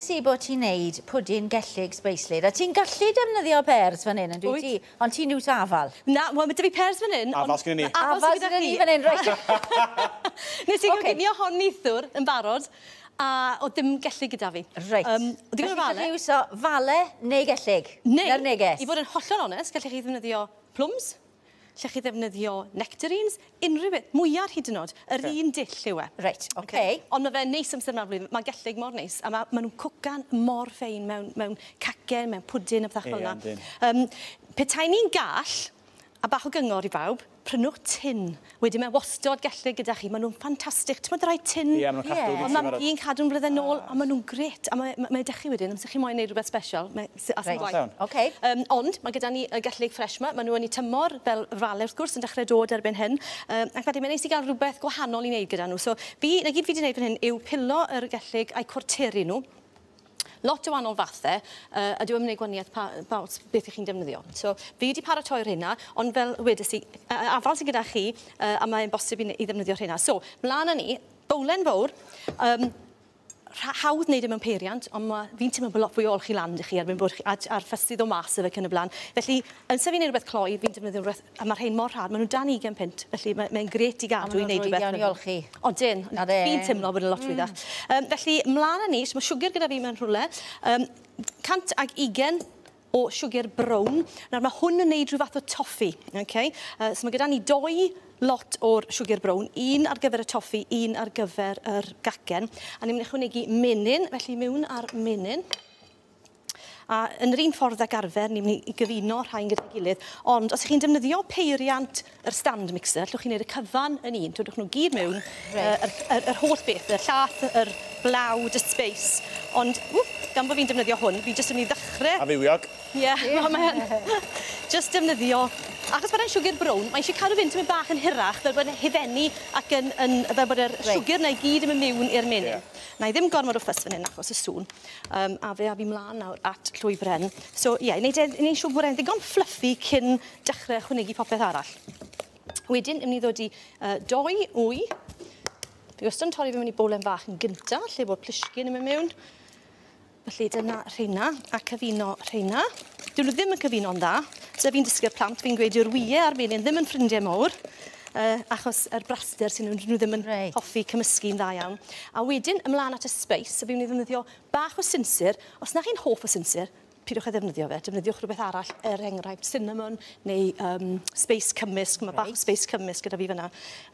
Ti bod ti'n neud pwdin gellyg sbeislyd a ti'n gallu defnyddio pêrs fan hyn yndwyt ti? Ond ti'n iws afal. Na, wel ma' 'da fi pêrs fan hyn. Afal sgynnon ni. Afal sgynnon ni fan hyn reit. Nes i goginio hon neithiwr yn barod a o'dd dim gellyg gyda fi. Reit. Yym o'dd digon o fale. Felly iwso fale neu gellyg? Neu. Na'r neges. I fod yn hollol onest gellech chi ddefnyddio plwms. Lle chi ddefnyddio nectarines, unrhyw beth, mwyar hyd yn oed, yr un dull yw e. Reit, ok. Ond mae fe'n neis amser yma o'r flwyddyn, mae gellyg mor neis, a mae nhw'n cwcan mor ffein mewn, mewn cacen, mewn pwdin a phethach fel yna. Ie, yndyn. Um, pe tai ni'n gall, a bach o gyngor i bawb, prynwch tin Wedyn mae wastod gellir gyda chi, maen nhw'n ffantastig. Ti'n meddwl rhaid tin? Ie, maen nhw'n cadw bwyty barod. Ie, un cadw'n flyddynol, a maen nhw'n gret. A mae, mae dych chi wedyn, amser chi moyn wneud rhywbeth special, mae, sy, as yn gwaith. Reit, ok. Um, ond, mae gyda ni y gellig ffresh yma, maen nhw yn ei tymor, fel rale wrth gwrs, yn dechrau dod erbyn hyn. Um, ac mae ddim yn neis i gael rhywbeth gwahanol i wneud gyda nhw. So, fi, na gyd fi wedi wneud fan hyn yw pilo yr gellig a'i cwrteru nhw. lot o wahanol fathe, yy a dyw e ddim yn neud gwanieth pa yy pa ots beth 'ych chi'n defnyddio. So fi wedi paratoi rheina ond fel wedes i yy yy afal sy gyda chi yy a mae e'n bosib i ne- i ddefnyddio rheina. So mlan â ni, bowlen fowr yym rha- hawdd neud e mewn peiriant on' ma' fi'n timlo bo' lot fwy o olchi lan 'da chi erbyn bod chi a j- a'r fys i ddo' mas 'da fe ac yn y bla'n. Felly amser fi'n neud rwbeth cloi fi'n defnyddio rwbeth a ma' rhein mor rhad, ma' n'w dan ugen punt, felly mae mae'n grêt i gadw i neud rwbeth... A ma' nw'n rhwydd iawn i olchi. Odyn. A fe- fi'n timlo bod e'n lot rhwyddach. Hmm. Yym felly mlan â ni, so ma' siwgr gyda fi mewn rhwle yym 120 o siwgr brown. Nawr ma' hwn yn neud rhyw fath o toffi, oce? Yy so ma' gyda ni dou lot o'r siwgr brown, un ar gyfer y toffi, un ar gyfer yr gacen, a ni myn' i ychwanegu menyn, felly miwn â'r menyn. A yn yr un ffordd ag arfer, ni'n mynd i gyfuno rhain gyda'i gilydd. Ond os ych chi'n defnyddio peiriant yr stand mixer, allwch chi wneud y cyfan yn un. Twydwch nhw gyd mewn, right. uh, yr, yr, yr holl beth, y llath, yr blawd, y space. Ond, ww, gan bod fi'n defnyddio hwn, fi jyst yn mynd i ddechrau... A fywiog. Ie, yeah, yeah. mae'n... Jyst defnyddio... Achos bod e'n siwgr brown, mae eisiau cadw fynd tymyn bach yn hirach, fel bod e'n hifennu ac yn, yn, fel bod yr right. siwgr na i gyd yn mynd mewn i'r menyn. Yeah. Na i ddim gormod o ffys fan hyn achos y sŵn. Um, a fe a fi mlaen nawr at llwybren. So, ie, yeah, wneud e, wneud siw bod e'n ddigon fluffy cyn dechrau chwnegu popeth arall. Wedyn, ni'n ddod i uh, doi wy. Fi wastad yn torri fe mewn i bowlen fach yn gynta, lle bod plisgyn yn mynd mewn. Felly dyna rheina, a cyfuno rheina. Dyn nhw ddim yn cyfuno'n dda. Dyna fi'n dysgu'r plant, fi'n gweud yw'r wyau a'r menyn ddim yn ffrindiau mawr. yy achos yr braster sy nhw nhw ddim yn reit. hoffi cymysgu'n dda iawn. A wedyn ymlaen at y spice, a fi'n ei ddefnyddio bach o sinsir. Os na chi'n hoff o sinsir, pidwch â ddefnyddio fe, defnyddiwch rhywbeth arall, er enghraifft cinnamon neu um, space cymysg, mae bach o space cymysg gyda fi fyna.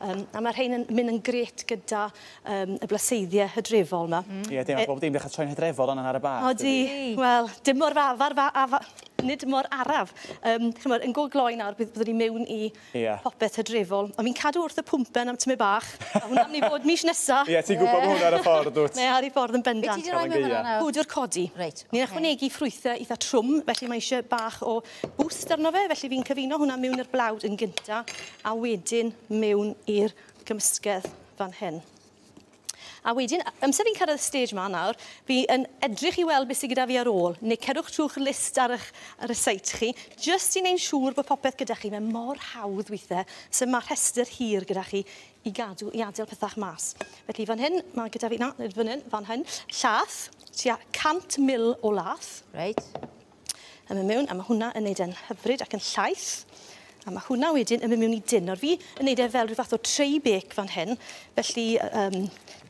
Um, a mae rhain yn mynd yn gret gyda um, y blaseiddiau hydrefol yma. Mm. Ie, dim e- bob dim, dechrau troi'n hydrefol ond ar y bar. O di, wel, dim mor fawr, fawr, fawr, nid mor araf. Um, chymod, yn go gloi nawr, byddwn ni mewn i Ie. Popeth hydrefol. Ond fi'n cadw wrth y pwmpen am tymed bach. A hwnna'n myn' i fod mish nesa. Ie, ti'n gwbo ma' hwnna ar y ffordd dwt? Mae ar ei ffordd yn bendant. Be' ti 'di roi mewn fan 'na nawr? Powdwr codi. Reit, oce. Ni'n ychwanegu ffrwythe itha trwm, felly mae isie bach o boost arno fe, felly fi'n cyfuno hwnna miwn i'r blawd yn gynta, a wedyn miwn i'r gymysgedd fan hyn. A wedyn, amser fi'n cyrraedd y stage ma nawr, fi yn edrych i weld beth sydd gyda fi ar ôl, neu cerwch trwy'ch list ar eich ryseit chi, jyst i wneud siŵr bod popeth gyda chi. Mae mor hawdd weithiau, so mae rhestr hir gyda chi i gadw, i adael pethau mas. Felly fan hyn, mae gyda fi, na, nid fan hyn, fan hyn, llath, tua 100 mil o lath. Reit. yn mynd mewn, a mae hwnna yn neud e'n hyfryd ac yn llaith. A mae hwnna wedyn yn mynd mewn i dyn. Nawr fi yn neud e fel rhyw fath o tray bake fan hyn, felly um,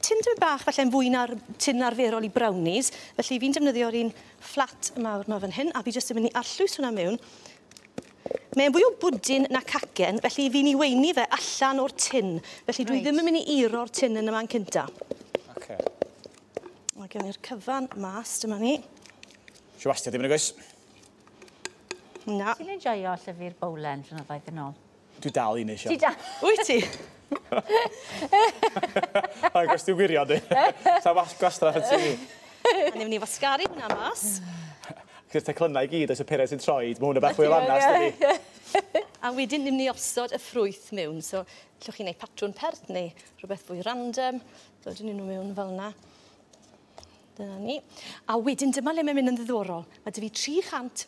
tin dyn bach falle'n fwy na'r tin arferol i brownies, felly fi'n defnyddio'r un fflat mawr yma fan hyn, a fi jyst yn mynd i arllwys hwnna mewn. Mae'n fwy o bwdin na cacen, felly fi'n i weini fe allan o'r tin, felly right. dwi ddim yn mynd i iro'r tin yn yma'n cynta. Okay. Mae gen i'r cyfan mas, dyma ni. Ti wastad i fyny, goes? Na. Ti'n enjoyo llyfr Bowlen flynyddoedd yn ôl? Dwi dal i neisio. Ti dal? Wyt ti? O'i gwrs, ti'n wirio di. Sa wasg gwastraff y ti. A ni'n mynd i wasgaru hwnna mas. Gyda'r teclynnau i gyd, oes y peren sy'n troi, mae hwnna bach fwy o lanast ydi. A wedyn ni'n mynd i osod y ffrwyth mewn. So, llwch chi'n neud patrwn pert neu rhywbeth fwy random. So, dyn ni'n nhw mewn fel yna. Dyna ni. A wedyn dyma le mae'n mynd yn ddiddorol. Mae dy fi 300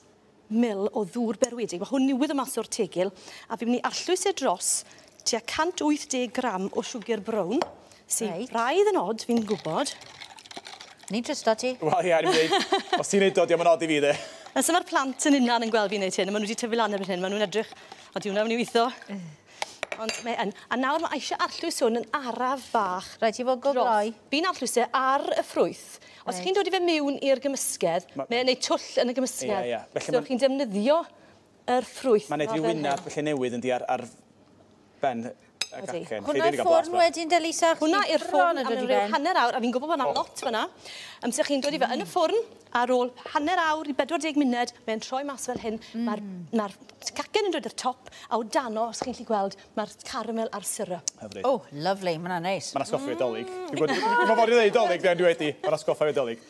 mil o ddŵr berwedig. Mae hwn newydd o mas o'r tegil. A fi'n mynd i arllwys e dros tua 180 gram o siwgr brown. Sy'n right. raidd yn od, fi'n gwybod. Ni'n trysto ti. Wel ie, ni'n dweud, os ti'n ei dod, diolch yn od i fi dde. Nes yma'r plant yn unan yn gweld fi'n neud hyn, a maen nhw wedi tyfu lan erbyn hyn, maen nhw'n edrych, o diwna, maen nhw'n weithio. Ond mae yn. A nawr mae eisiau arllwys hwn yn araf fach. Rhaid i fod go gloi. Fi'n arllwys e ar y ffrwyth. Os chi'n dod i fe mewn i'r gymysgedd, mae'n gwneud twll yn y gymysgedd. Ie, ie. So chi'n defnyddio yr ffrwyth. Mae'n gwneud rhyw wyneb felly newydd yndi ar ar ben y gacen. Hwnna i'r ffwrn wedyn de Lisa? Hwnna i'r ffwrn am ryw hanner awr a fi'n gwybod bod yna lot fanna. Amser chi'n dod i fe yn y ffwrn ar ôl hanner awr i 40 munud mae'n troi mas fel hyn. Mae'r mae'r cacen yn dod i'r top a o dano os chi'n lli gweld mae'r caramel a'r syrup. Hyfryd. Oh, lovely, mae'n hwnna'n neis. Mae'n asgoffa fi o dolig. Mm. Dwi'n gwybod, dwi'n gwybod i ddeud dolig, dwi wedi. Mae'n asgoffa fi o dolig.